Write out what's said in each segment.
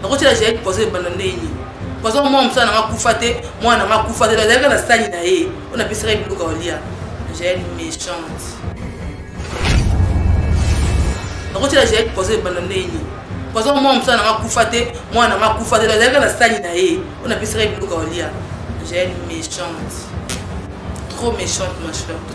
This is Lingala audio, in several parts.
nakotyela jael poison ebanda ndeni poison mwana mosala nanga kufa te mwana nanga kufa te azalaka na sani na ye oyo napesaka ye biloko olia jael méchante nakotyela jael poison ebanda ndeni poison mwana mosala nanga kufa te mwana nanga kufa te azalaka na sani na ye oyo napesaka ye biloko olia jael méchante trop méchante ma chère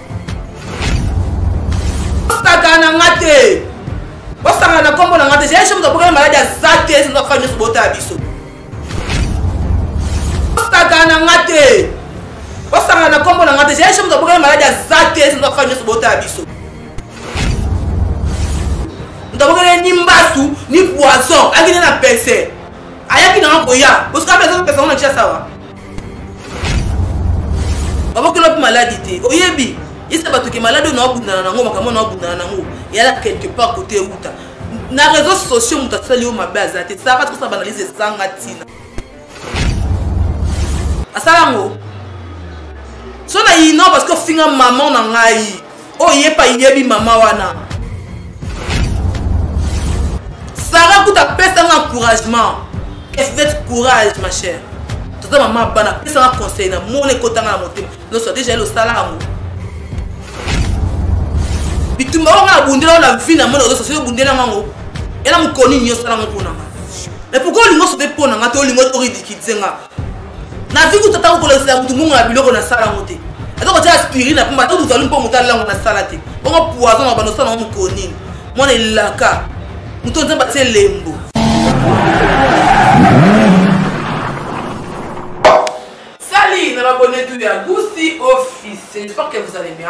osaka na nga te osaka na nkombo na nga te zela soki tobokeli maladi ya za te esi nzaka nyonso botala biso osaka na nga te osaka na nkombo na nga te zela soki tobokeli maladi ya za te esi nzaka nyonso botala biso tobokeli ni mbasu ni poison akende na pese ayaki nanga koya osika mpe azopesa ngo na tia sawa babokela mpe maladi te oyebi yesa bato ke maladi oyo naobundana nango makambo oyo naobundana nango eyala quelque part kote euta na réseau sociaux moto asali yo mabe aza te sara tikosala banalyse esanga ntina asala yango so na ino parce que ofinga maman na ngai oyo ye pa yebi mama wana sara kuta apesa nga encouragement efete courage ma chère toza mama ya bana apesa nga conseil na mona ekotanga na motema nyonso deja ye losala yango bitumba oyo nga abundela yo na vie na mona ozosa soki obundela ngango ela mokoni nini osala ngo mpo na nga mais pourkoi olingi osote mpo na nga to olingi oridikilize nga nazwi kutu ata kokolakisela motu mbongo na biloko nasala yango te ata kotya aspirine na mpomba ata tozali mpo motu alalango nasala te bongo poison na banda osala yango mokolo nini mwana elaka moto nzambe atie lembo sali na babonetu ya gusi office j'espère que vous allez bien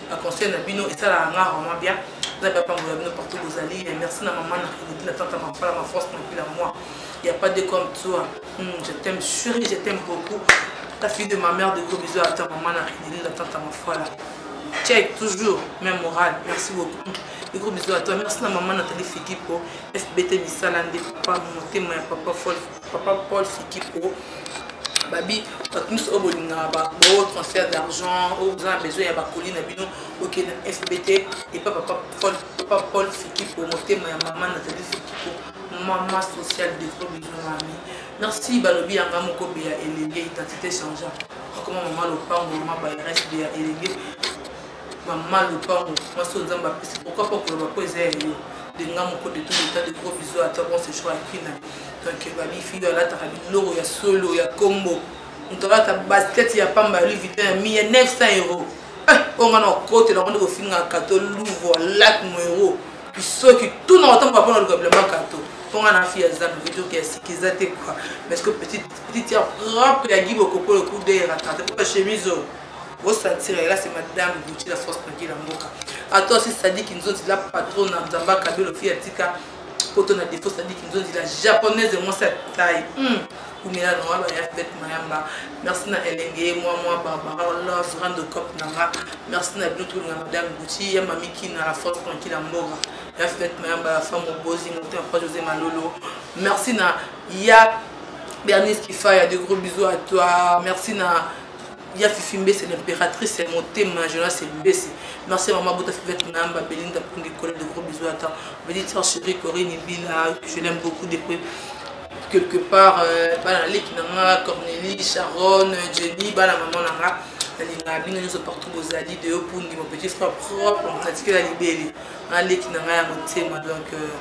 ba conseil na bino esalaka nga vraiment bien nzambe apambola bino partout bozali eh, merci na mama na eleki na tante mafala ma force mapui la moi il y a pas de comme toi hmm, je t'aime chérie je t'aime beaucoup la fille de ma mère de gros bisous à ta maman na eleki na tante mafala check toujours même morale merci beaucoup de gros bisous à toi merci na maman Nathalie Fikipo FBT misala nde papa motema ya papa Wolf Papa Paul Sikiko, babi bato nyonso oyo bolingaka bao transfert d'argent oyo boza na besoin ya bakoli na bino bokende na fb te epa papa paul fikipo motema ya mama natali fikipo mama social de gros besoin mami merci balobi yanga moko be ya elenge identité changea akoma mama lopango mama baireste be ya elenge Maman lopango mwasi oyo nzambe apesi pourquoi pas koloba po eza ya yo de nga moko de tout l'état de gros bisous à toi bon séjour à kina donc babi fille oyo alataka biloko ya solo ya kombo moto alata basket ya pamba ya louis vuitton ya miya 900 euro eh, oyo nga na okotela yango nde kofingaka to louvre lak moero bisoki tout na otambola mpo na luka bilamba kato mpo nga na fille ya zambe vedoki ya sika eza te kua parce que petite ya propre ya gibokopolo kudeyaka tata mpo bachemise oyo bosantira elasi madame gucci la force nagi na mboka ata osi sadiki nzonzi la patron na nzamba kabelo fi atika poto na defo sadiki nzonzi la japonaise mwasi ya tai hmm. kumela na wana ya fete mayamba merci na elenge ye mwa mwa barbara love rando cop na nga merci na bino tolinga madame gucci ya mami kina la force tranquille ya mboka ya fete mayamba la femme obozi moto ya pa josé malolo merci na ya bernice kifaya de gros bisous à toi merci na Ya fifi mbese l'imperatrice motema jonas mbese merci maman abota fivette nayamba belinda pongi kole de gros bisous ata belitia chérie corinne bila je l'aime beaucoup de près quelque part euh, bana na leki na nga cornelie sharon jenny bana maman na nga nalingaka bino nyonso partout bozali de yo pundi mon petit frère propre natikela libele na leki na nga ya motema donc euh,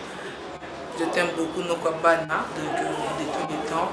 je t'aime beaucoup noko ya bana donc euh, de tous les temps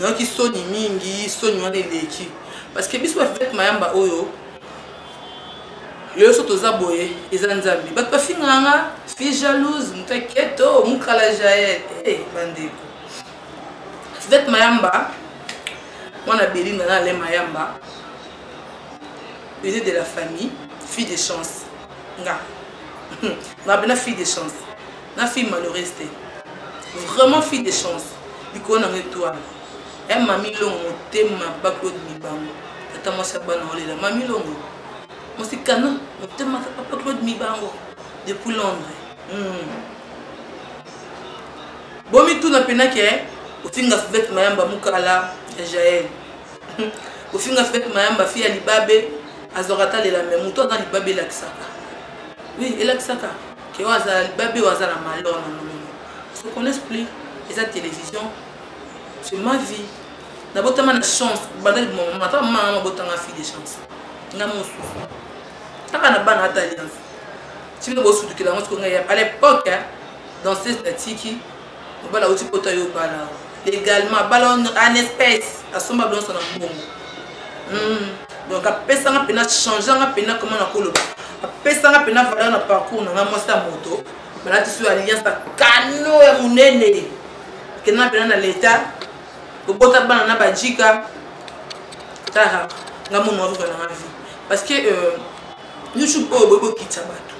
nayoki soni mingi soni wana eleki parce que biso bavete mayamba oyo lelo so toza boye eza nzambe bato bafingaka nga fille jalouse moto aketo oh, mukala jael hey, eh, bandeko vete mayamba mwana belinda na ale mayamba bene de la famille fille de chance nga nga bena fille de chance na fille malheureuse te vraiment fille de chance likolo nango etoile e eh, mami longo motema baklode mibango tata mwasi ya bana olela mami longo mosikana motema papa claude mibango depuis londres hmm. bomituna mpenaki e ofinga fivete mayamba mukala ya jael ofinga fivete mayamba fi ya libabe azwaka talela me moto aza libabe elakisaka wi elakisaka Ke oyo aza libabe oyo aza na malheur na molimo. Ils se connaissent plus. Eza télévision. C'est ma vie. Nabotama na chance. Banda liboma mama. Ata mama mama botanga fille de chance. Nga mosusu. Taka na bana ata alliance. Tibile bosutukela ngo siko nga ya. À l'époque, danseuse na tiki. mobala auti poto ayo obala legalement abala en espèce asomba bilonso na mbongo hmm. donc apesanga mpena changeanga mpena koma na koloba apesanga mpena valeur na parcours nanga mwasi ya moto balatisi yo alliance ya kano ya monene kenda mpena na leta kobota bana na bajika tara nga mono azoka nanga vie parce que euh, youtube oyo boyebokitisa bato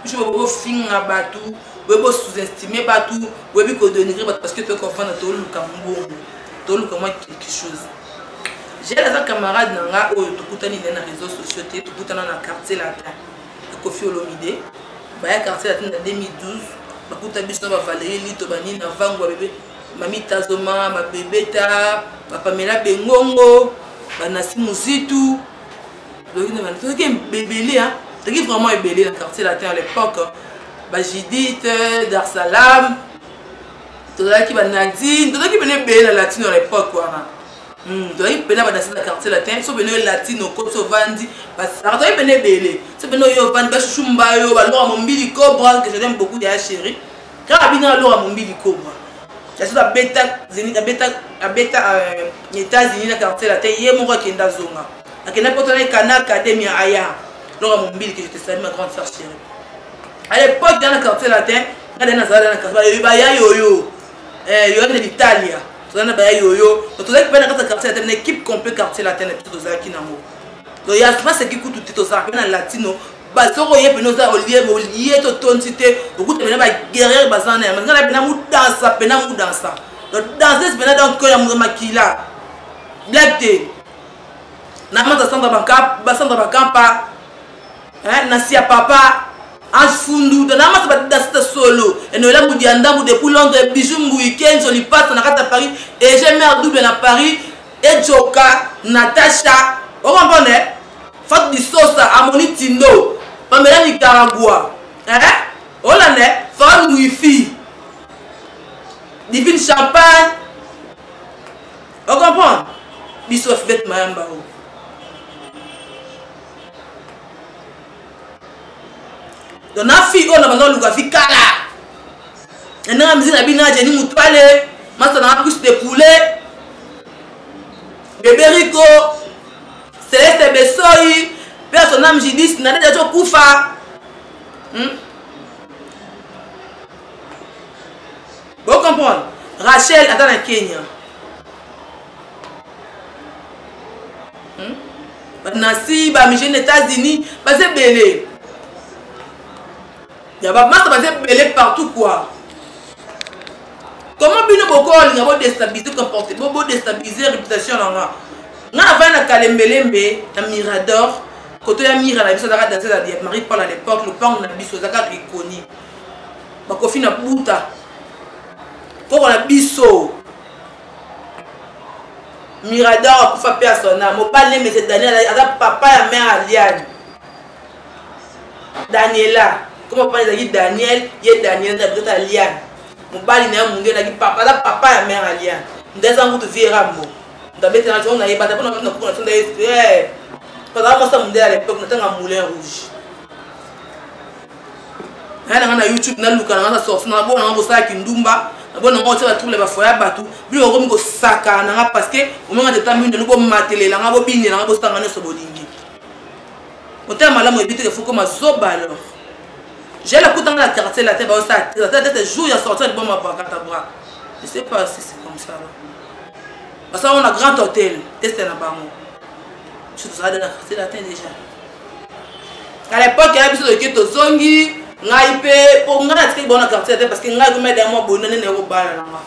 biso boyebi kofinga bato boyebi kosous-estime bato boyebi kodenigre bato parce que toyebi kofanda toluka mbongo toluka mwa quelque chose jel aza camarade na nga oyo tokutani naye na réseau sociaux te tokutana na quartier latin ya kofi olomide baya quartier latin na 2012 bakuta biso na bavalerie lito banini na vangu ya bebe mamitazoma mabebeta bapamela bengongo banasi muzitu Loki na batu toki ebele hein. Toki vraiment ebele na quartier latin à l'époque. Hein. Ba Judith, Dar es Salaam. Tozalaki ba Nadine, tozalaki bene ebele na latino à l'époque wana. Hmm, tozalaki pena badasi na quartier latin so bene oyo latino koti ovandi basara tozalaki pene ebele so bene oyo ovandi bashushu mbayo balora mombili cobra que je l'aime beaucoup ya chérie Kaka bino na lora mombili kobwa. Kasi to abeta Zenith abeta abeta euh, États-Unis na quartier latin ye moko akenda zonga. Akenda poto na kana academy ya aya. Lora mombili que je te salue ma grande sœur chérie. À l'époque dans le quartier latin, quand on a dans le quartier, il y a yo-yo. Eh, il y a de l'Italie. Tozana na baya yoyo. Donc tozaki pena kata quartier latin, équipe complète quartier latin, tout tozaki nango. Donc ya sima c'est qui kutu tozaki na latino bazoko ye pene oza olie olie to tonsi te okuta pena ba guerrier baza na ya nga na pena mudansa pena mudansa donc danseuse pena donc ko ya makila black te na mata sandra banka ba sandra bakampa hein na sia papa ange fundu donc na mata ba danse ta solo et no la mudia ndambu depuis londres bijou mbuyi kenzo lipasa na kata paris et j'ai mère double na paris et joka natasha okomprendre Fatou Disosa amoni Tindo Pamela Nicaragua eh? Olande Femme Wifi Divine Champagne O comprendre Biso Fivette Mayamba o oh. donc na fille oyo na banda oluka fi kala na ndenge miziki na bino ajeni mutwale masana na cuisse de poulet bebe rico Celeste Besoyi, paix à son âme, Judith Nadège azo kufa. Hmm? Vous comprenez Rachel aza na Kenya. Hmm? Nancy, ba Michel États-Unis, baza belé. ya ba masta baza ebele partout quoi comment bino bokolinga bodestabilise comporte bodestabilise réputation na nga nga navai na kalembelembe na mirador koto ya mira na biso azaka danse ya marie paul à l'époque lopango na biso ezaka ekoni bakofi na buta koko na biso mirador akufa mpe asona mobali nemese daniel aza papa ya mare aliane daniela koma papa ezalaki daniel ye daniela na bitata liane mobali na ye munge ezalaki papa aza papa ya mare ya liane nda eza ngutu vie rambo ndabetela ntongo na ye bata mpona na kuku na tonda ye pazala mwasi ya mondele ya lepoke natanga moulin rouge naya nanga na youtube naluka nanga na sorti nanga bona nanga kosala kindumba nabo nanga otya batrouble bafoya bato bino okomi kosakana nanga parce que omanga teta mino nobomatelela nanga bobinela nanga bosanga nyonso bolingi Motema malamu ebi te que faut comme zoba alors. J'ai la kutanga la quartier la tête ba ça la tête jour ya sortir bon ma bakata bra. Je sais pas si c'est comme ça. Parce qu'on a grand hôtel, teste na bango. Je suis dans la quartier la tête déjà. À l'époque, il y a biso de keto zongi, ngai mpe mpo ngai natikaki bango na quartier te parce que ngai komeda ya mwa boye nani naye kobala na ngai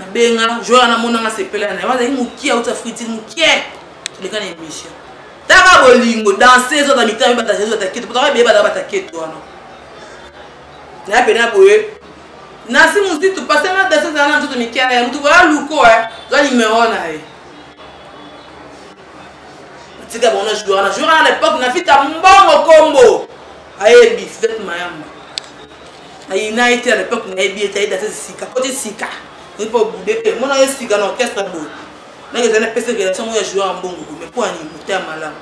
nabenga jour wana mona nga sepela na yo azalaki mokie auti afriti mokie leka na émission taka bolingo danse ezota mitami badanse ezota keto potaka ebeye baza bataketo wana naya pena boye nasi mozitu pase nga danse ezala na nzoto mike na ye motu boya luko e za nimero na ye tika bango na joueur na joueur na l'époque na fita mbongo kombo ayebi fete mayamba ayina ye te na lepoke nayebi ye te ayeda te sika koti sika oyebi mpo obude te mona ye sika na orchestre boye nake ezali apesa relation yango ya joueur ya mbongo boye mai mpo ani moto ya malamu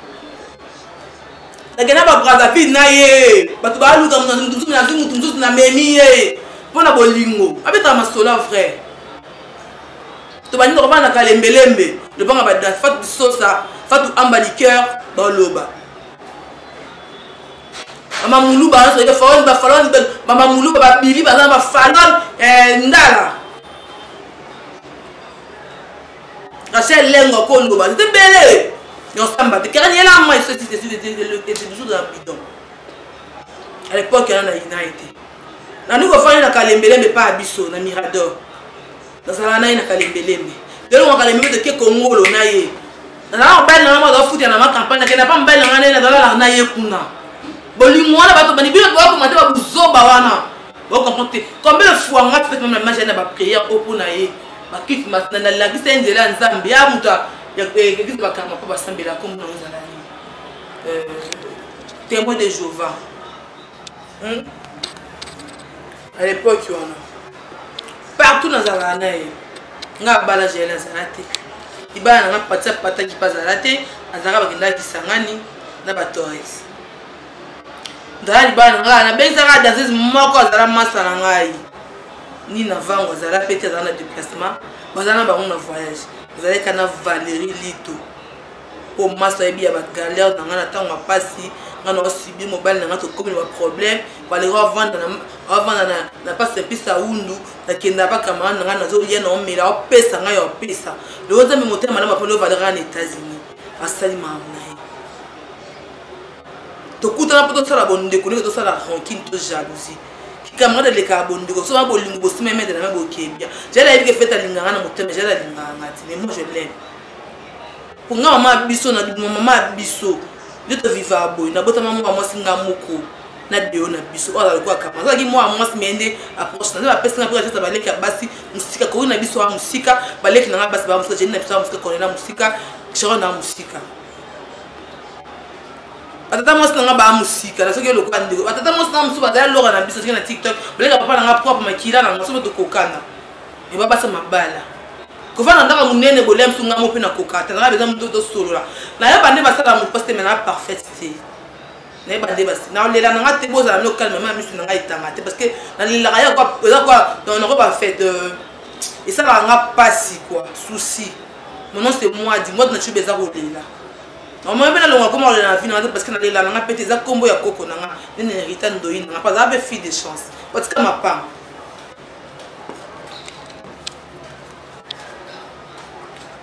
nakenda babrazaville na ye bato baluka motu nazwi motu mosusu na memi ye mpo na bolingo abetaka masola vrai to baninga kobana na kalembelembe lobanga badanse fatu bisosa fatu amba liqueur baloba mama muluba wana tozalaki falon ba falon mama muluba ba bili baza na ba falon eh, ndala rachel lengo ko loba te bele yo samba te kera yela moi ce qui était était toujours dans bidon à l'époque yana na ina été na nous ko fana na kalembele mais pas biso na mirador nazalaka na ye na kalembelembe lelo nga kalembelembe toke kongolo na ye nazalaka mobali na ngai moko azafutela na nga kampagne nakenda mpa mobali na ngai na ye nazalaka na ye kuna bolingo wana bato bani bino bakoma te babuzoba wana bokomprendre te combien de fois nga fete meme na mage na baprière oyo mpo na ye bakiti nalakisa ye nzela ya nzambe ya moto ekiti bakarma mpo basambela kombo na ozala ye euh, témoin de jéhovah hmm? à l'époque wana partout nazalaka na ye nga abala jael azala te libala na nga patisa pataki mpe azala te azalaka bakendaka kisangani na batores nzala libala na ngai nabengisaka danseuse moko azala masa na ngai ni na vango azala mpe te azala na déplacement bazala na bango na voyage azalaki na valérie lito po masi ayebi ya bagalere na ngai na ntango ya mpasi ngai naosubi mobali na ngai tokomi na baproblème baleko avanda na mpasi epesa wundu nakenda bakamarade na ngai nazoya na omela opesa ngai ya opesa loko nzambe motema malamu aponi ovaleraka na états-unis asali mamu na ye tokutana mpo tosala bondeko ndenge tosala rankine to jalousie camarade elekaka bondeko soki na bolingo bosimba emedela na boke bien jala yebi ke fete alingaka na motema jala alingaka nga ti mais moi je l'aime Pour nga maman biso na dubuma maman biso. Nde to vivaka boye na botama mwa mwasi nga moko na deo na biso oyo azalaki akama azalaki mwa mwasi meye nde approche na nde bapesi nga mpe atata baleki ya basi mosika koki na biso ya mosika baleki na nga basi baa mosika jeni na biso ya mosika kole na mosika sharon na mosika batata mwasi na nga baa mosika na soki elokola ndeko batata mwasi na nga mosusu bazali loka na biso soki na tiktok baleka papa na nga propre makila na nga soki tokokana ebabasa mabala kovanda ndaka monene bolia biso ngambo mpe na koka ata nanga beza moto tosolola nayeba nde basala moto mpasi te me naa parfaite te nayeba nde basi nalela nanga te bozala mino calme ma misu nanga etanga te parce que nalelaka ya eza kwa nako bafete euh, esalaka nga mpasi kua souci monon se mwadi mwadi na cibe eza kolela omoi mpe nalonga koma kolela na vi nanga te parce que nalela nanga mpe te eza nkombo ya koko nanga nde na herita ndoyi nanga mpe azala mpe fille de chance otika mapanga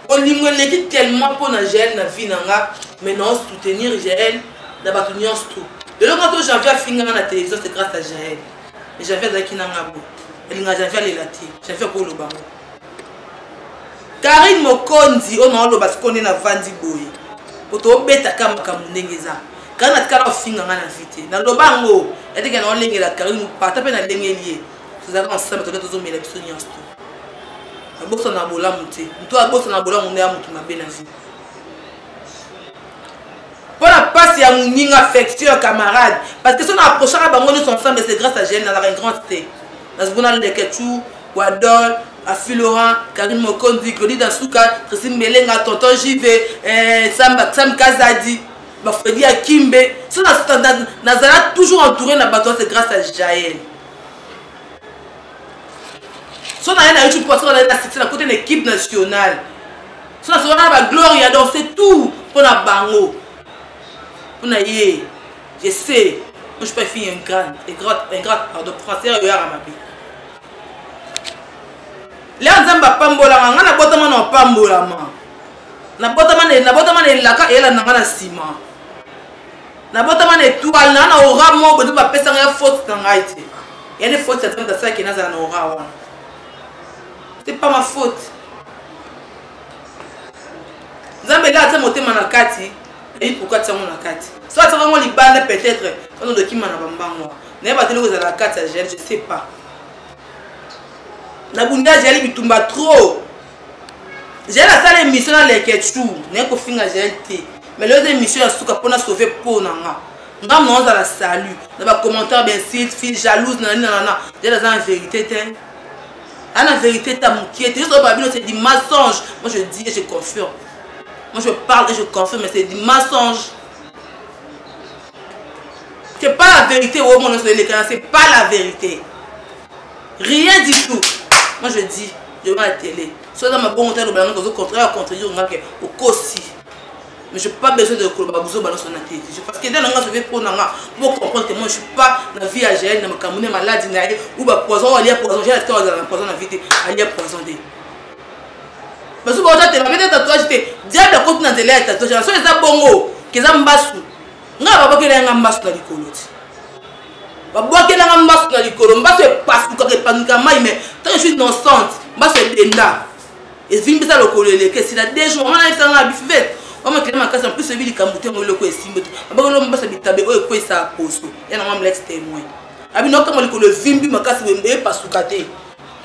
bolingo eleki tellement mpo na jael na vie na nga mais nao soutenir jael na bato nyonso tout lelo nga to janvier afinganga na télévision c'est grâce à jael mais janvier azalaki na nga bo elinga janvier alela te janvier akoloba ngo karine mokonzi oyo naoloba sikoyo nde navandi boye po tobetaka makambo ndenge eza karine atikala ofinga nga na vie te naloba yango yateke naolengela karine pata mpe nalengeli ye tozalaka na sala toke tozomela biso nyonso to abosana na bolamu te moto abosana na bolamu nde ya moto mabe na vie mpo na mpasi ya moninga affection ya camarade parce que so na approchaka bango nyonso ensemble c'est grâce à gene nazalaka une grande te nazoko na lekechou wadol afi laurent karine mokonzi claudi dasuka traci mbelenga tonton jv eh, sam, sam kazadi bafredi ya kimbe so nazala toujours entouré na bato c'est grâce à jael so naye na youtube parce que nazali na succès na kote na équipe nationale so nasokaka na bagloria donc c'est tout mpo na bango mpo na ye je sais moi je peux finir un grand un grand un grand pardon français oyo yaka mabe leo nzambe apambolaka ngai nabotama na opambolama nabotama na elaka eyela na ngai na nsima nabotama na etoile na na ora moko bozo bapesa ngai faute na ngai te yani faute ya nzambe asalaki nazala na ora wana c'est pas ma faute nzambe ela ata motema na kati nayebi pourkui atia yango na kati so atiaka yango libanda peut-être ono dokima na bambango naye bateli kozala na kati ya gel je sais pas na bunda ajali bitumba trop Jael asala emission na lekechou naye kofinga jael te mais lelo eza emission ya suka mpo na sauve mpo na nga nga mona ozala salut na bacommentaire bensilt fille jalouse na nani nanana jael aza na verité te aza na verité te mokie te nyonso babino c'est du mensonge moi je dis et je confirme moi je parle et je confirme mais c'est du mensonge c'est pas la vérité omona nyonso elekana c'est pas la vérité rien du tout moi je dis je vois la télé soki oza mabongo te aloba yango ozocontraya contredire nga ke okosi mais je pas besoin de koloba buzoba nyonso na télévision parce que eza na nga soki mpo na nga bo comprendre que moi je suis pas na vie ya jael na makambo ne maladi na ye ou bapoison oyo alia poison jael atao azala na poison na vie te alia poison te basusu baoza te babete tatouage te diable akoti na nzela ya tatouage na soki eza bongo keza mbasu ngai babakela yanga mbasu na likolo ti babwakelanga mbasu na likolo mbasu epasukaka epangika mai mais tant je suis innocente mbasu edenda evimbisa lokolo eleki esila de jour wana ayebisanga bifivete wamakele makasi en plus oyebi likambo te yango eloko esimbi te abakelo mbasa bitabe oyo ekweyisaka poso ya na mamlex témoin abino okanga likolo evimbi makasi boye epasuka te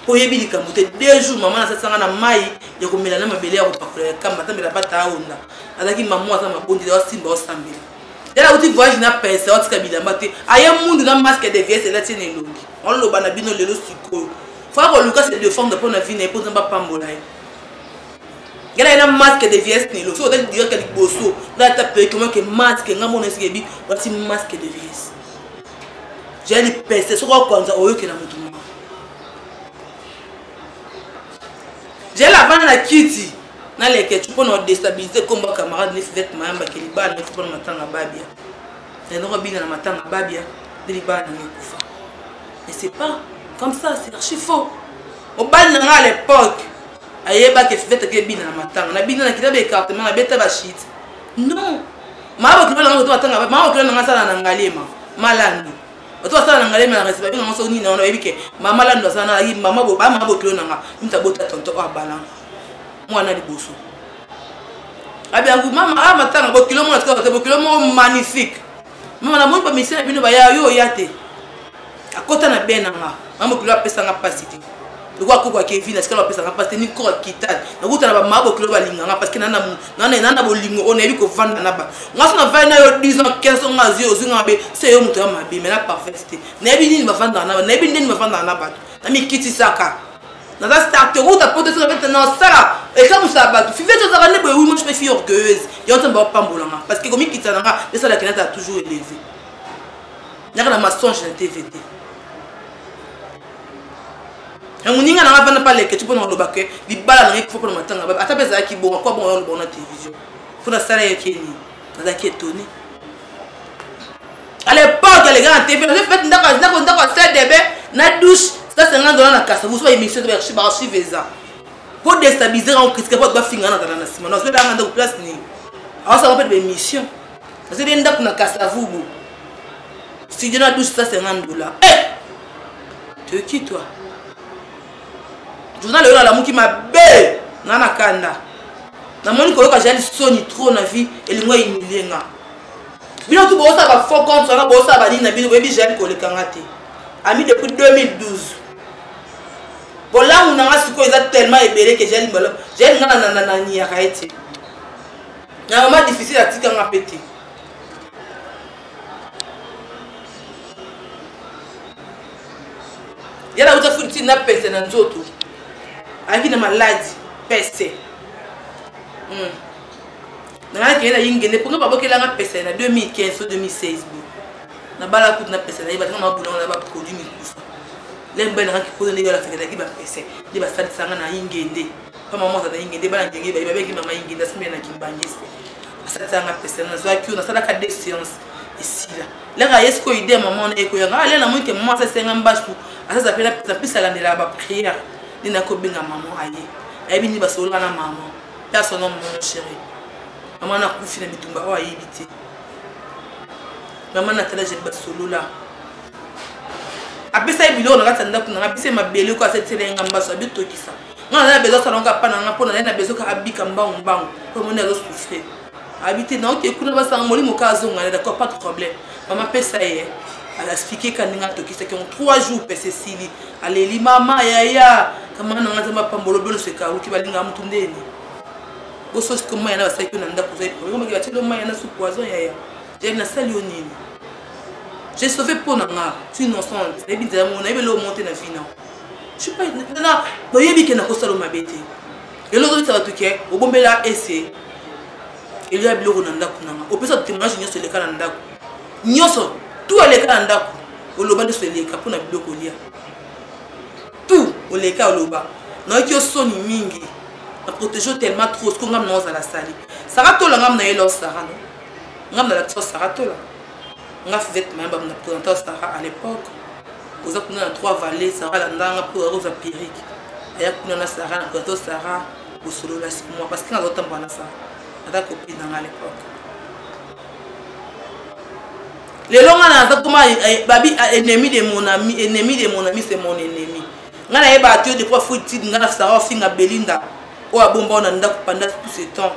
mpo oyebi likambo te de jour mama nasasanga na mai ya komela na mabele ya kopakola ya kamba atamela bata aonda azalaki mamo aza mabondeli asimba osambela yala auti voyage na pince otika bilamba te aye mundu na masque de viese elati na elongi oloba na bino lelo sikoyo faa koluka se defendre mpo na vi na ye mpo nzambe apambola ye yala ye na masque de viese na elongi soki otali direct ya liboso nga ata pekomake masque nga mona esika ebi olati masque de viese jaya lipese soki okwanza oyokela motu moko jela avanda na kiti na leketchu mpo na odestabilize kombo ya camarade nesi zete mayamba ke libala na efupa na matanga babia yanoko abina na matanga babia nde libala nango ekufa mais c'est pas comme ça c'est archi faux mobali na ngai à l'époque ayebaki esi zete ke ebina na matanga nabina na kita baecartement nabeta bashite non maa bokilo na ngai koto matanga maa bokilo na ngai asala na ngaliema malandi bato basala na ngalema na respect bino nyonso nini wana oyebi ke mama lando aza na mama ba mama bokilo na nga mta bota tonto oyo abala mwana liboso abi yango mama a ah, matanga bokilo mwana tika te bokilo moko magnifique mama namoni ba misala bino baya yo oya te akota na bena nga mama bokilo apesa nga mpasi te lokola koko ya kevina sikala bapesa nga mpasi te ni koko ya kitani nakutana bamama bokilo balinga nga parce que naa na bolingo oyo nayebi kovanda na ba nga so navandi na yo 10 ans 15 ans nga azwi ozwi nga mabe se yo moto ya mabe mai na parfaite te nayebi nini bavandaka na bato nayebi ndeni bavandaka na bato namikitisaka naza star te okuta poto soki nabeta nasala ekamusa ya bato fivete ozaka nde boye wi moi je me fille orgueilleuse yango ntango baopambolanga parce que komikitisa na nga esalaki nazala toujours éleve naka na massange na tv te na moninga na nga vanda mpa leketi mpo na koloba ke libala na ngai kufa mpo na matanga babe ata mpe ezalaki bonga kwa bonga yaloba na télévision mpo nasala yaki ye nini nazalaki etoni à l'époque alekaka na tv nazali fete ndako ndako ndako sedebe na douche sa 50 dola na kasa mosusu baémission baarchive eza mpo destabiliser yango critique mpo bato bafingana na zala na nsima nazolanga ndako place nini awasaka mpe na baémission Parce que ndaku na Kasavubu. Studio na 1250 dollars. Eh! Tu es qui toi? Journal oyo alamuki mabe na na kanda. Na moni koyoka jali soni trop na vie elingo humilier nga. Bino tout bosa ba faux compte na bosa ba nini na bino boyebi jali koleka nga te. Ami depuis 2012. bolamu na nga sikoyo eza tellement ebele ke jali mbalo jali nga na niyaka ye te na mama difficile atika nga mpe te ye nauta fulu ntina na pese na nzoto ayaki na maladi pese hmm. nanga kende na yingende mpo nga babokelanga pese na 2015 to 2016 bo nabala kutu na pese na ye batanga mabulanga na baproduit mikufa lembe nanga kikozo ndenge alafekelaki bapese nde basalisanga na yingende mama moko aza na ingende bana ndenge baye babeki mama ingende asimbe na kimbangiste asatisanga pesa nazwaki yo nasalaka de séance esila laka ye sikoyo ide ya mama wana ekoyanga ale ah, namoni te mama asasenga mbasu asaza mpe napesa mpesa alandelaka bapriere nde nakobenga mama aye ayebi nini basolola na mama mpe asona mama chéri mama nakufi na bitumba oyo ayebi te mama natala jeli basolola apesa ye biloko na kati ya ndako nanga apesa ye mabele ko asatisela ye nga mbasu abitokisa nga naza na bezo asala nga pa na nga mpo naye na bezo kaka abika mbangu mbangu mpo omoni azo souffrir abi te naoke kuna basanga molimo ka azonga na d'accord pas de problème mama pesa ye alaspike ka ndenge atokisaki yango trois jours pese esili aleli mama yaya kamana nanga nzambe apambolo beloso ekaruki balingaka motu ndeni bososi ko mai yana basalaki yo na ndako ozali problème omaki batieli yo mai yana su poison yaya yaya nasali yo nini j'ai sauvé mpo na nga tu innocente nayebi nzela mongo nayebi eloo monte na vina toyebi ke nakosala mabe te lelo ozobisa bato ke obombela ese elia biloko na ndako nanga opesa témoignage nyonso eleka na ndako nyonso tu aleka na ndako oloba nyonso eleka mpo na biloko olia tu oleka oloba nayoki yo soni mingi na protege tellement trop siko ngam na ozala sali sara tola ngam na ye lor sara no ngam na lakisa sara tola nga fivette mayamba na présenta sara à l'époque oza kuna na trois vallée sara landanga mpo akozwa perike aya kuna na sara na présenta sara kosolola sur moi parce que nga azotambola na sara aza copine na nga à l'époque lelo nga naza koma eh, eh, babi ah, ennemi de mon ami ennemi de mon ami c'est mon ennemi nga nayeba te depuis afuti tidi nga na sara ofinga belinda oyo abomba na ndako panda tout ce temps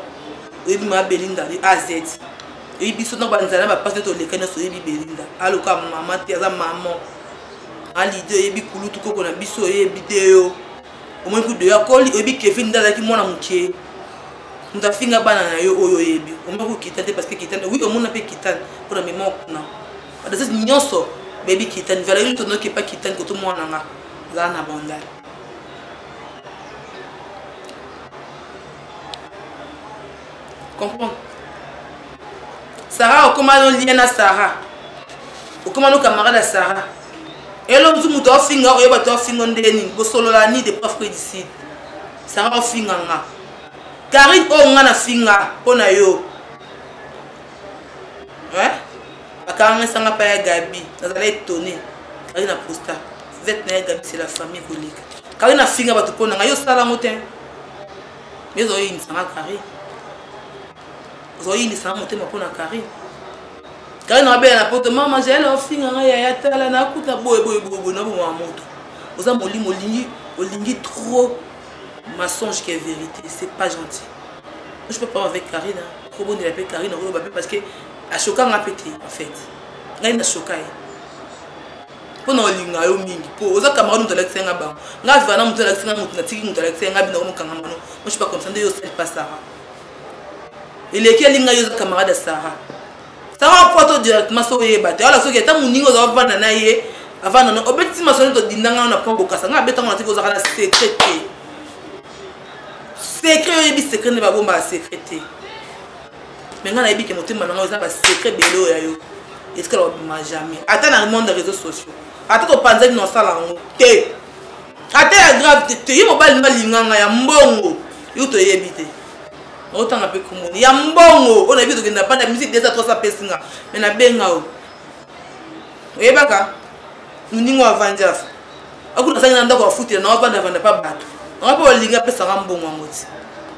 oyebi ma belinda de az eyi biso na banzala bapasi nde toleka nyonso oyebi belinda aloka mama te aza mama alide oyebi kulutu koko na biso oyebi te yo omoni kudo ya koli oyebi kevin nde azalaki mwana moke moto afinga bana na yo oyo oyebi omoni kokita te parce que kitane wi omona mpe kitane mpo na mema kuna badasese nyonso bayebi kitane valeri tonoki epa kitane koto mwana nga azala na bandale comprendre sarah okoma no lien na sarah okoma no camarade ya sarah elo mosu moto aofinga oyo bato aofinga nde nini kosolola ni de prof que dicide sarah ofinga nga karine oyo nga nafinga mpo na yo bakangangisanga mpa ya gabi nazala etone kari na posta vete na ya gabi c'est la famille koleka kari nafinga bato mpo na ngai yo osala yango te yo ozoyinisa nga carine ozoyinisa nga motema mpo na carine kaka na babela na poto mama jaela ofinga ngai yaya tala nakuta boye boye boyeboye na bomama moto oza molimo olingi olingi trop mensonge ke vérité c'est pas gentil je peux pas avec karina kobondela mpe karina okoloba mpe parce que ashoka nga mpe te en fait ngai nashoka ye mpo na olinga yo mingi mpo oza camarade moto alakisa yanga bango nga azala na moto alakisa nga moto natiki moto alakisa yanga bino komokanga mano moshi pa komisa nde yo osali pa sara eleki alinga yo oza camarade ya sara sara apoto directement so oyeba te wala soki ata moninga oza ovanda na ye avanda na obeti masolo todindanga na mpo bokasa nga abetango natiki ozaka na secret te secret oyebi secret nde babombaka secret te mais ngai nayebi ke motema na ngai eza basecret ebele oyo ya yo etikala kobima jamais ata na monde ya réseau sociaux ata topanzaki na osala yango te ata ya grave te te ye mobali nde alinganga ya mbongo yo toyebi te otanga mpe komoni ya mbongo oyo nayebi tokenda panda musique desa 300 pesi nga me nabenga o oyebaka moningo avandi afa akuna asangi na ndako afutela na ovanda avanda mpa bato nanga mpe olingi apesanga mbongo yango ti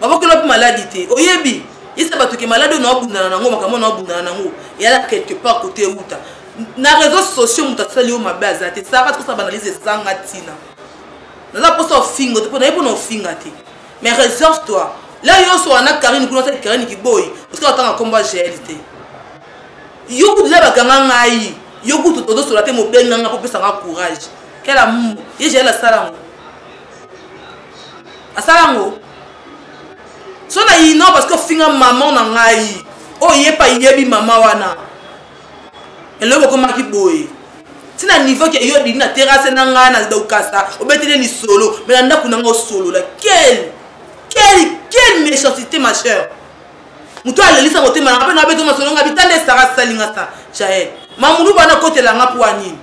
babokeli wapi maladi te oyebi yesa bato ke maladi oyo naobundana nango makambo naobundana nango eyala quelque part kote euta na réseau sociaux moto asali yo mabe aza te saka tikosala banalyse ezanga ntina naza mposa ofinga te mpo nayebi mpona ofinga te mais reserve toi la yonso wana karine kuna asali karine kiboyi otika otanga nkombo ya gl te yo kutu la bakanga ngai yo kutu tozosola te mobenganga mpo opesanga courage kela mumu ye gl asala yango asala yango so na ino parce que ofinga maman na ngai oyo ye pa yebi mama wana eloko okomaki boye ntina niveau ke yo odindi na terase na ngai na dokasa obeteli lisolo me na ndako na ngai osolola quel quel quel méchancité ma chère moto alelisa motema nanga mpe na beto masolo nga bitanda esara salinga sa jael mamulu bana kotela nga mpo anini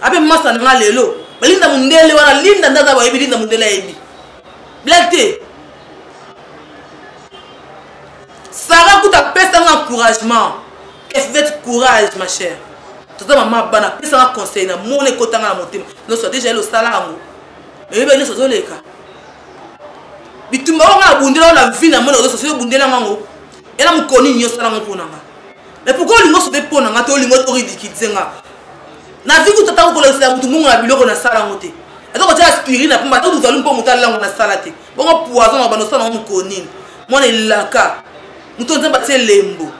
ape masa nanga lelo balinda mondele wana linda nde aza bayebi linda mondele ayebi blak te sara kuta apesa nga encouragement efvete courage ma chère toza mama bana apesa nga conseil na mona ekotanga na motema noso deja ele osala yango nayebi ba nyonso ozoleka bitumba oyo nga nabundela yo na vie na mona ozo sosi obundela ngango ela mokoni nini osala ngo mpo na nga mais pourkoi olingi osobe mpo na nga to olingi oridikilize nga na vie kutu ata kokolakisela motu mbongo na biloko nasala ngo te ata kotyela spiri na mpamba ata kuzalu mpo motu alango nasala te bongo poison na banda osala ngo mokonini mwana elaka moto nzambe atie elembo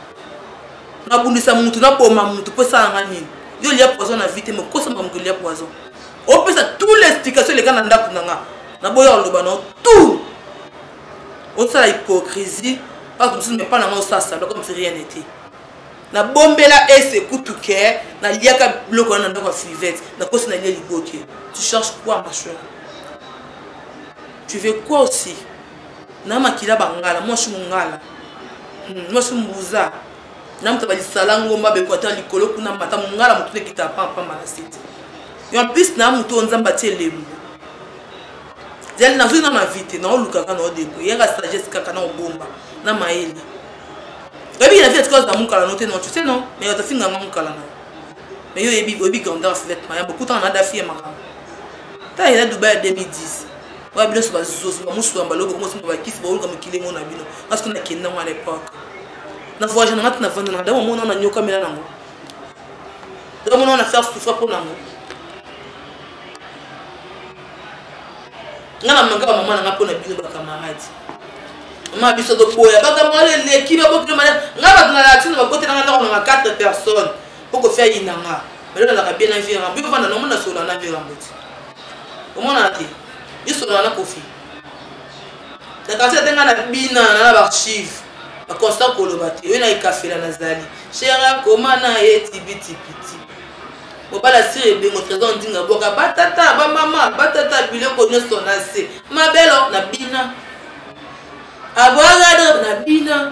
nabundisa motu naboma motu mpo esala nga nini yo olia poison na vie te mokosa makambo kolia poison opesa tout l'explication eleka na ndako na nga na boya oloba na tout osala hypocrisie batu mosusu mepa na nga osala salo comme si rien n'était nabombela ese kutu ke naliaka biloko wana na ndako ya fivete nakosi nalie liboke tu cherche quoi ma chere tu veux quoi aussi na makila bangala mwasi mongala hmm, mwasi mbuza Namta ba lisala ngomba beko ata likolo kuna mata mungala mutu lekita pa pa mala sete. Et en plus na mutu onzamba tie lembo. Zali na zui na ma vite na oluka kana odeko yaka sagesse kaka na obomba na maele. Ebi na vite cause na mukala note non tu sais non mais yo tafinga nga mukala na. Mais yo ebi obi grandeur fête maya bokuta na dafi ya makama. Ta ila Dubai 2010. Wa bino so ba zozo ba musu ya mbalo ko musu ba kisi ba oluka mukile ngona bino. Parce que na kenda ngwa à l'époque. na voyage na nga ti na vanda na nga dakomona na nyokamela nango dakomona na faire souffra mpo nango nga na mangaka mama na nga mpo na bino bakamarade mama biso toboya bakamarade eleki babokino maya nga bato na latine bakote nanga ndako nanga 4 personnes mpo kofia yina nga belo nalaka bien na vie rambo yo vanda na omona solola na vie rambo ti omonana te yo solola na kofi na kasi ate ngai na bina na na baarchive bakonsta koloba te oyo na ekafela nazali shera koma na ye tibitipiti mobali asiri ebengo trésor ndinga bwaka batata bamama batata biloko nyonso na se mabelo na bina abwaka na bina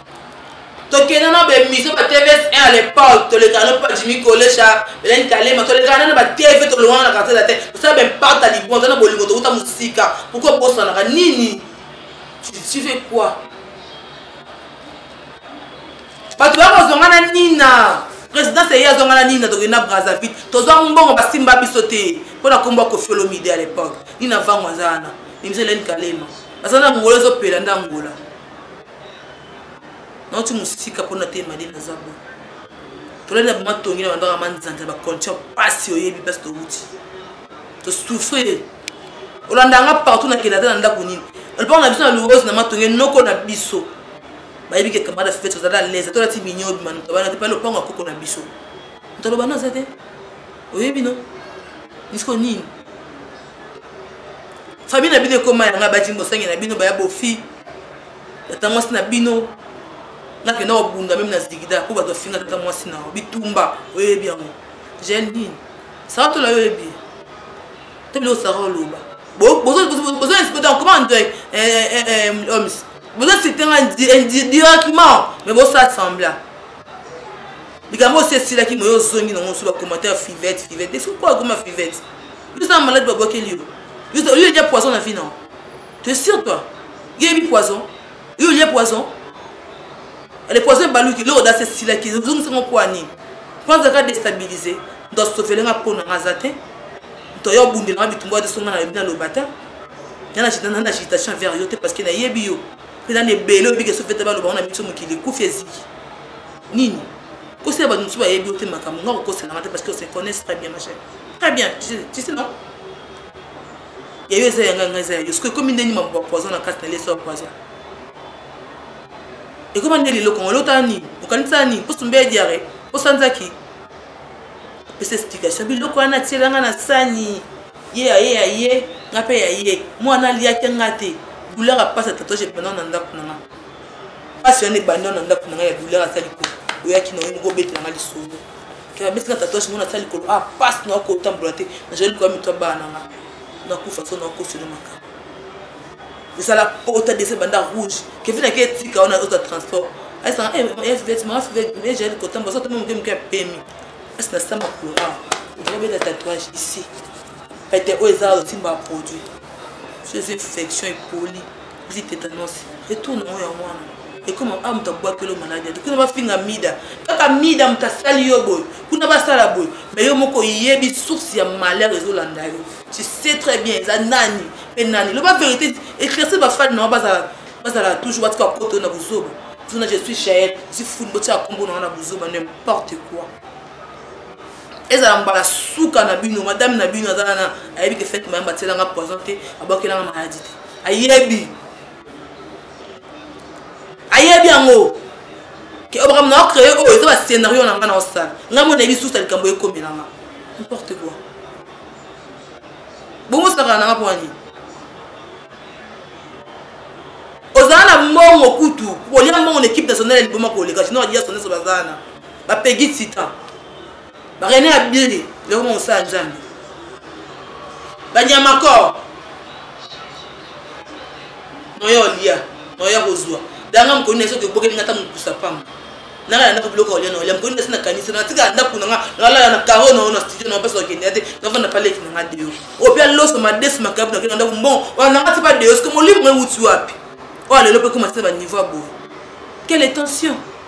tokenda na baemission ba tvs 1 à l'époque tolekana no pa jimi kolesha belani kalema tolekana na batv tolongana na kartela te tosala baimpact ya libonza na bolingo towuta mosika pourkoi bosanaka nini tu fais quoi bato bakozonga na nina présidence eye azonga na nina tokenda brazzaville tozwa mbongo basimba biso te mpo na nkombo ya kofiolomide à l'époque nina vango aza wana emission elani kalema aza na angola ezopela nde angola nauti mosika mpo na te madi naza bo tolali na boma tongi na bandaka manzanza ba condition mpasi oyebi mpasi towuti tosouffrir olanda nga partout na kelata na ndako nini olipaka na biso na luose na matonge noko na biso bayebi ke camarade fete ozali alaise tolati minyobi manutobana te pale lopango ya koko na biso moto alobana aza te oyebi no misiko nini famille na bino ekoma yanga bajini bosangi na bino baya bofi tata mwasi na bino nakenda kobunda meme na zigida mpo bato bafinga tata mwasi na yo bitumba oyebi yango gel nini sara tola yo oyebi to biloko sara oloba boza espete comment ndoy omis boza site nga directement mais bosala sembla likambo osi esilaki moyo ozongi nango mosusu bacommentaire fivete fivete esoki mpo akoma fivete yo oza na malade babwakeli yo yo olie dia poison na vie na yo te sur toi yo yebi poison yo olie poison le poison ebaluki eloko dasi esilaki ezongisango mpo ya nini mpo azalaka destabilise moto asofele nga mpo na nga aza te moto aya obundela nga bitumbu ya tosonga na yebi naloba te nga na agitation vers yo te parce que nayebi yo mpe nani ebele obiki esofete baloba ngo na biso mokili ekufi eziki nini kosi ya bato mosusu bayebi yo te makambo nga kokosela nga te parce que se connaisse très bien ma chère très bien tu sais non ya yo eza ya ngai ngai eza ya yo soki ekomi nde nima ba poison na kati na leso ya poison ekoma nde lelo kongo elota nini okanisa nini mposo mbe ya diare osanzaki apesa explication biloko wana atiela nga na sani ye ya ye ya ye nga mpe ya ye mwana aliaki nga te douleur apasa tatouage pendant na ndako na nga pasi wana ebanda na ndako na ngai ya douleur aza likolo oyaki na yo moko obetela ngai lisolo abeti na tatouage mona asala likolo ah pasi na okotambola te nazali likoya mito ya bana na ngai nakufa so naokoselo makambo ezala pota dese banda rouge kevin ake etika wana ozwa transport aisaaetimaaejaeli kotambola so tama moke moke ya pemi asi na sama courant obeta tatouage ici pete oyo eza osimba produit so eza infection epoli Petit tetanos retour na ngo yango wana ekoma a ah, moto abwakeli maladi ate kuna bafinga mida kaka mida moto asali yo boye kuna basala boye mai yo moko oyebi source ya malheur ezolanda yo tu sais très bien eza nani mpe nani loba vérité éclairci bafani na yo bazala toujours batika koto na buzoba zona je suis jael zifuni botika kombo na yo na buzoba n'importe quoi ezala mbala suka na bino madame na bino aza nana ayebi ke fete mayamba atielanga poison te abwakelanga maladi te ayebi ayebi yango ke oyo makambo na ocreye oyo eza bascenario na ngai na osala ngai mo nayebi susa likambo ekomelanga importe quoi bongo osakana nanga mpo wani ozala na mbongo kutu kolia mbongo na ekipe nationale ya liboma koleka sino adia sondeso bazana ba pegi titan ba rene abili leo mosala nzambe banyamakor noya olia noya kozwa danga mokoni na soki ebokeli nga ta mokusa pamba nanga na ndako biloko olia na olia mokoni na si nakanisi natika ndako na nga nalala na karo na yo na studio na basi bakende ya te navanda paleki na nga deyo oyo mpe aloso madesu makabu nakende na ndako mbongo wana nanga ti pa deyo soki molimo euti wapi oyo alelo mpe ekoma tina baniveau ya boye quelle tension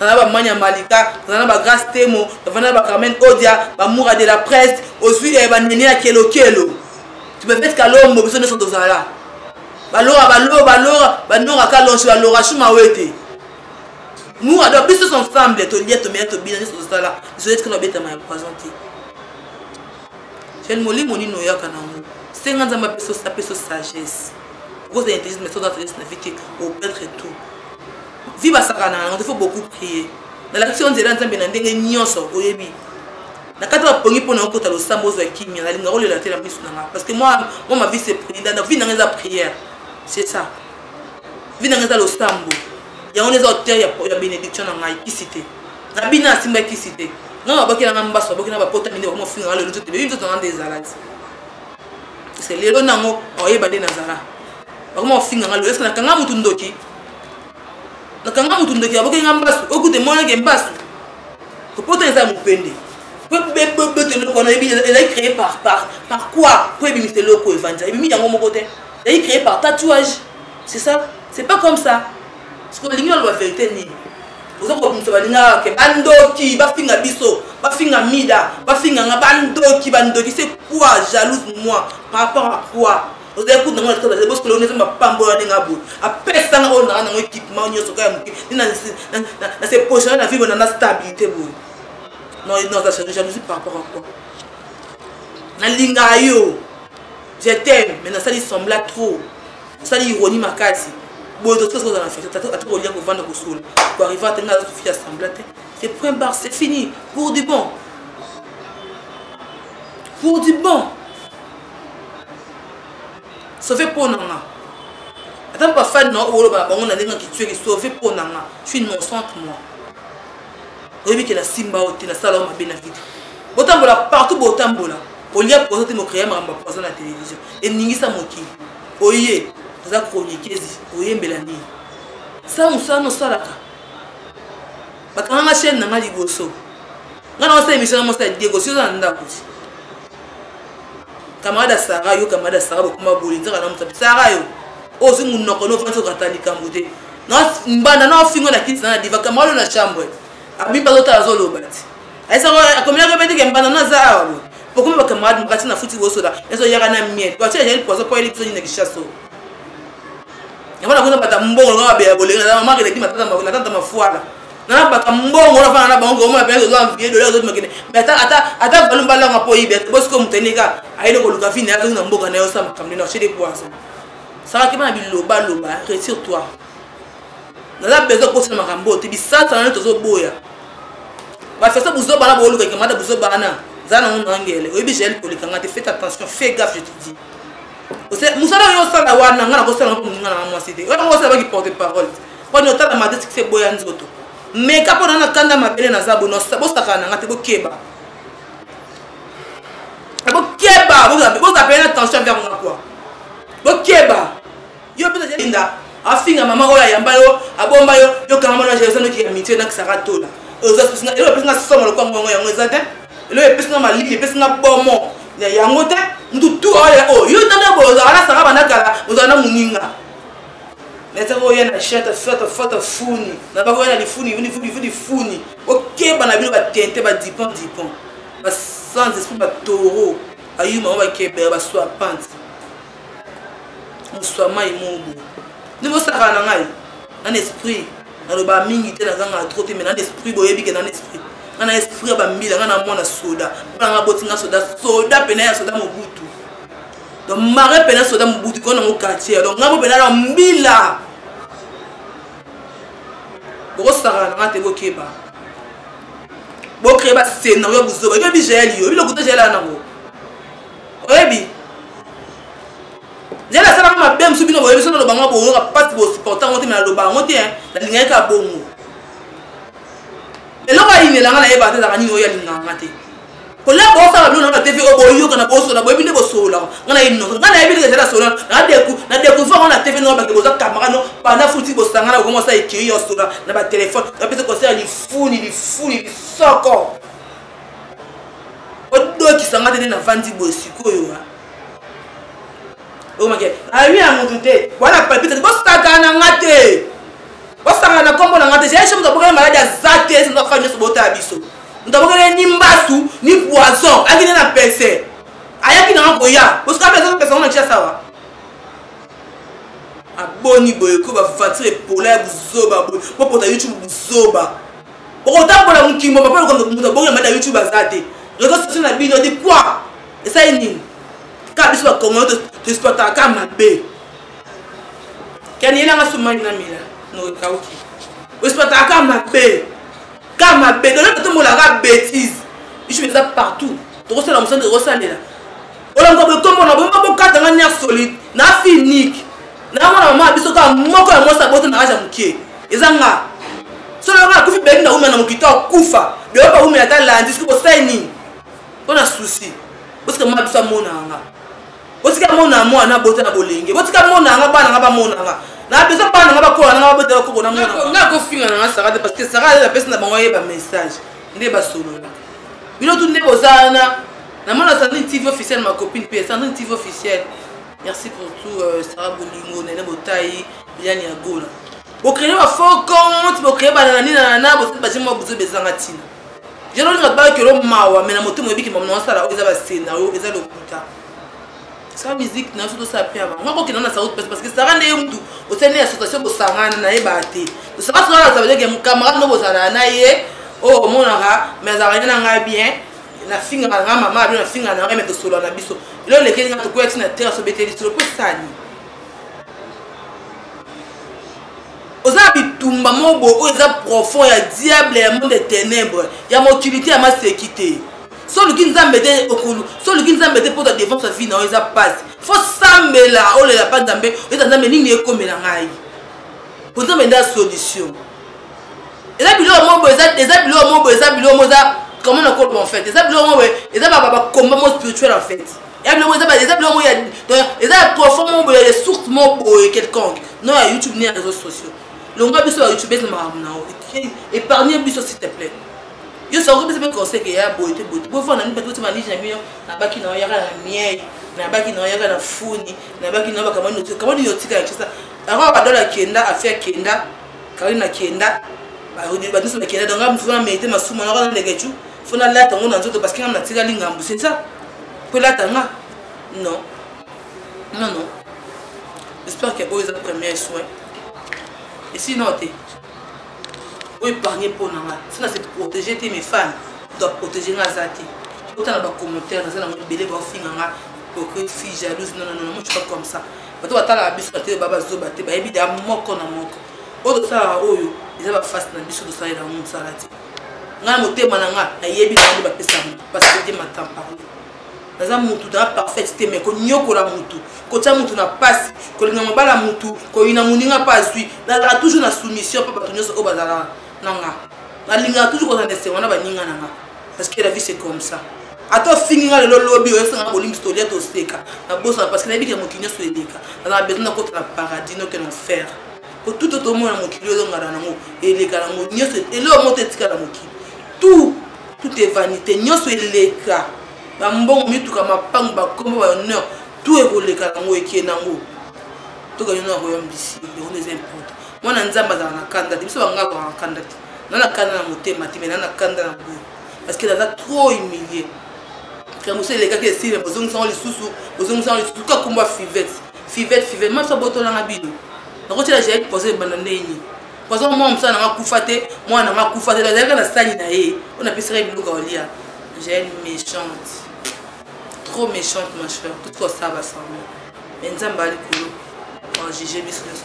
nana ba manya malika nana ba grace temo nana ba carmen odia ba mura de la presse ozwi eh, ba nene ya kelokelo tubefete kalombo biso nyonso tozala balora balora balora banora kalonso balora shuma wete nous alors biso tous ensemble tolia tomela tobina nyonso tosala biso etikala obetama ya poison te jane molimo nini oyaka nango senga nzambe apesa apesa sagesse okozala intelligence mais soza sagesse na vie te opetre tout vie basakana na yango te faut beaucoup prier nalakisi yo nzela ya nzambe na ndenge nyonso oyebi na kati ya pongi mpo na okota losambo ozwa kimia nalinga olela te na miso na nga parce que moi moi ma vie c'est prière na vie nanga eza prière c'est ça vie nanga eza losambo yango nde eza auteur ya bénédiction na ngai kisi te na bino asimba kisi te nga babaki nanga mbaso babaki na bapota mine bakoma ofinga nga lelo nzoto bebi nzoto nga nde ezala ti parce que lelo nango oyeba nde nazala bakoma ofinga nga lelo eske nakanga motu ndoki nakanga motu ndoki aboki nga mbasu okute monake mbasu kopota eza mopende bebebete eloko wana ezali créé par par par quoi mpo ebimisa eloko evanja ebimi yango moko te ezali créé par tatouage c'est ça c'est pas comme ça siko olingi oloba verité nini oza kobimisa balingaka ke bandoki bafinga biso bafinga mida bafinga nga bandoki bandoki c'est quoi jalouse moi par rapport à quoi Ozali kutu na mwana kitoko bazali bosikolo neza mapambola ndenge ya boye apesa nga oyo nanga nango ekipema nyonso kaka moke na se positionne na vivre na na stabilité boye non non aza change jalousie par rapport à quoi nalingaka yo je t'aime mais nasali sembla trop osali ironie makasi boye tosi kozala na fete ata kolia kovanda kosola koarrive ate nga azosufi ya sembla te c'est point barre c'est fini pour du bon pour du bon sauve mpo na nga ata bafani na oloba na bango na ndenge kitsueli sauve mpo na nga suis innocente moi oyebi ke nasimba yo te nasala yo mabe na vide botambola partout botambola olia poison te mokreya makambo ya poison na télévision eningisa mokili oye oza kronikezi oyembela nini sa mosala nosalaka bakanganga chaine na nga liboso nga na osala emission na mosala diego si oza na ndako ti camarade ya sara yo camarade ya sara bokoma boye nzaka na mosapi sara yo ozwi monoko no ofandi okata likambo te mbanda na ofingo na kiti na diva camarade na chambre abimba azotala azoloba ti ayesako akomelaki mpe teke mbanda na aza awa boye bokomi bacamarade mokati na futi bosoda ezo yaka na miel bati ajali poison mpo ayeli biso nini na kishaso yango nakuna bata mbongo lokola babela bolenga na mamaka eleki matata mafuala nana baka mbongo na fana na bango vraiment pe zo envier dola zo makende mais ata ata ata balu balanga po yibe to bosko mutende ka ayele ko luka fini azo na mboka na yo sa makamne na chez des poissons ça va ki bana biloba loba retire toi naza besoin kosala makambo te bisasa nani tozoboya bafesa buzoba na boolukaki mata buzoba wana za nango nangele oyebi jael kolikanga te fait attention fait gaffe je te dis mosala oyo osala wana nga nakosala moninga nanga mwasi te oyo yango osala baki porte parole poni otala made sikisa eboya nzoto meka mpo na na kanda mabele naza bono bosakana na nga te bokeba bokeba bozapele na tension envers nga kua bokeba yo mpe nazalinda afinga mama oyo ayamba yo abomba yo yokanga mwana jaisa noki ya mitie nakisaka tola elo epesi nga somo lokwa ngongo yango eza te elo epesi nga malili epesi nga bomo ya yango te mutu tu oyo oyo yo tanda boyo ozalaka na sanga banda kala ozala na moninga nete koya na chete fete fete funi na bakoya na lifuni vunivudivu lifuni okeba na bino batente badipon dipon basanz esprit batoro ayuma ngo bakebela baswa panti moswa mai mobu nde bosakana na ngai nana esprit naloba mingi te nazanga tro te mai nana esprit boyebi ke nana esprit ngai na esprit ya bambila ngai na mwana soda mpona ngai boti ngai soda soda mpena ya soda mobutu donc mare mpena soda mobutu kona yango quartier donc ngambo mpena na mbila bokosakana na nga te bokeba bocree bascenario buzoba ebi jaeli yo biloko te jaeli ana yango oyebi jaeli asalaka mabe mosusu bino boyebi so naloba ngo boyoka mpasi bosupporta yango te me naloba yango te nalingaki kaka bongo eloko ayinelanga nayebaka te ezaka nini oyo alingaka nga te kola bosa babino na batv oyo boyoka na bosola boyebi nde bosololaka nga nayebi nonso nga nayebi ndenge ezali asola na decouvre yango na tv noo bake boza camarade no banda futi bosangana bokomi osa ekiri ya osola na batelefone bapesa conseil ya lifuni lifuni lisoko odokisa nga te nde navandi boye sikoyo okomaki awi ya motu te wana palpite bosakana na nga te bosakana na nkombo na nga te jaye chemutu abokani maladi aza te esenza kaka nyonso botala biso moto abokeli ye ni mbasu ni poison ayaki nde na pese ayaki nanga koya osuka mpe azopesa ngo na tia sawa aboni boye ko bafatire epola ya buzoba boye bopota youtube buzoba okotambola mokimbo papa lokondo moto abongi na mata youtube aza te reseau sociaux na bino di kua esali nini kaka biso bakongolo toexploitaka kaka mabe kani elanga sumani na mela nokekauki oexploitaka kaka mabe Car ma bedola to mola ka bêtise. Biso beza partout. Toko sala musala toko salela. Ola ngo be kombo na bo mako kata nga nerf solide. Na finique. Na mona mama biso ka moko ya mosa bote na aja mukie. Eza nga. Solo nga kufi beki na umana mukito kufa. Be opa umana ta landi siko sai nini? Ona souci. Parce que mama biso mona nga. botika mona mwana na bota na bolenge botika mona yanga bana nga bamona nga na besoin bana nga bakola nanga babota bakoko na mona nga kofinga nanga sara te parce que sara aza apesi na bango ayeba message nde basolola bino tu nde boza wana namona sandrine tv officiel ma copine mpe sandrine tv officiel merci pour tout euh, sara bolingo nene botai liliane ya gola bocreye bafaux compte bocreye banana ninanana bosali baje mwa bozo bezanga ntina jalo olinga baki olo mawa me na motema oyebiki mamu na osala oyo eza basena oyo eza lokuta sa musique na biso tosala mpe ya bango nga kokenda na saut pasi parceke sara nde ye mutu osali nde association bosangana na ye baa te tosaka sozala savedeke mokamarade no bozalaa na ye oyo oh, omonaka me azalaka nde na ngai bien nafingaka na ngai mama abino nafingaka na ngai me tosolola na biso elo olekeli nga tokweyaki na terre asobeteli solo mpo esani oza na bitumba moko boye oyo eza profond ya diable ya monde ténèbre ya mokili te ya maseki te so oluki nzambe te okulu so oluki nzambe te mpo ta défense ya vie na yo eza mpasi fo sambela olela mpa nzambe oyeta nzambe nini ekomela ngai mpo nzambe nde ya solution eza biloko moko boye eza biloko moko boye eza biloko moko eza comment nakoloba en fait eza biloko moko boye eza bakomba mo spirituel en fait ya biloko eza eza biloko ya eza ya profond moko boye ya source moko boye quelconque non ya youtube ni ya réseaux sociaux longwa biso ba youtubes na makambo na yo épargne biso s'il te plaît yo soko kopesa mpe conseil ke ya boye te boye te bofanda nini bato botima lije na bino nabaki na yo yaka na miei nabaki na yo yaka na funi nabaki na yo bakamani notika kamani yotika ya kisa yango badola akenda afi akenda karine akenda banyonso bakenda donc amfuna mete masumu yango na ndegecu faut nalata yango na nzoto parce que nga natikali ngambu c'est ça po elata nga non non non j'espère que oyo eza premier soin esi non te oyo épargne mpo na nga si na se protégé te mes fans doit protégé nga aza te otala bacommentaire naza nango ebele baofinga nga hypocrite fille jalouse non non non moi je suis pas comme ça bato batalaka biso na te ba bazoba te bayebi da moko na moko oyo tosalaka oyo eza baface na biso tosalela yango mosala te ngai motema na ngai nayebi na nde bapesaka motu mpasi te te makambo parle naza motu naza parfaite te mai konyokola motu kotya motu na mpasi kolinga mobala motu koyina moninga mpe azwi nazalaka toujours na soumission mpe bato nyonso oyo bazalaka na nga nalingaka toujours kozala na esengo na baninga na nga parce que la vie c'est comme ça ata ofingi nga lelo lobi oyesanga bolimbisi tolia toseka nabosana parce que nayebi ke mokili nyonso eleka nazala besoin nakota na paradis noke na enfer po tout oyo tomona mokili oyo ezongana nango eleka nango nyonso eloko moto etikala mokili tout tout est vanité nyonso eleka bambongo mituka mapango bakombo bahonneur tout ekoleka nango eke nango tokende na royaume d'ici yango eza importe mwana nzambe azala na kanda te biso bangaka kozala na kanda te na na kanda na motema te mai na na kanda na boye parce que naza trop humilie likambo so elekaki esile bozongisango lisusu bozongisango lisusu kakumba fivete Fivette fivette maso abotola nga bino nakotyela jael poison ebanda ndenge nini poison mwana mosala na nga kufa te mwana na nga kufa te azalaka na sani na ye oyo napesaka ye biloko aolia jael méchante trop méchante ma chère tout ce kosala basemblant mais nzambe ya likolo ajuge biso nyonso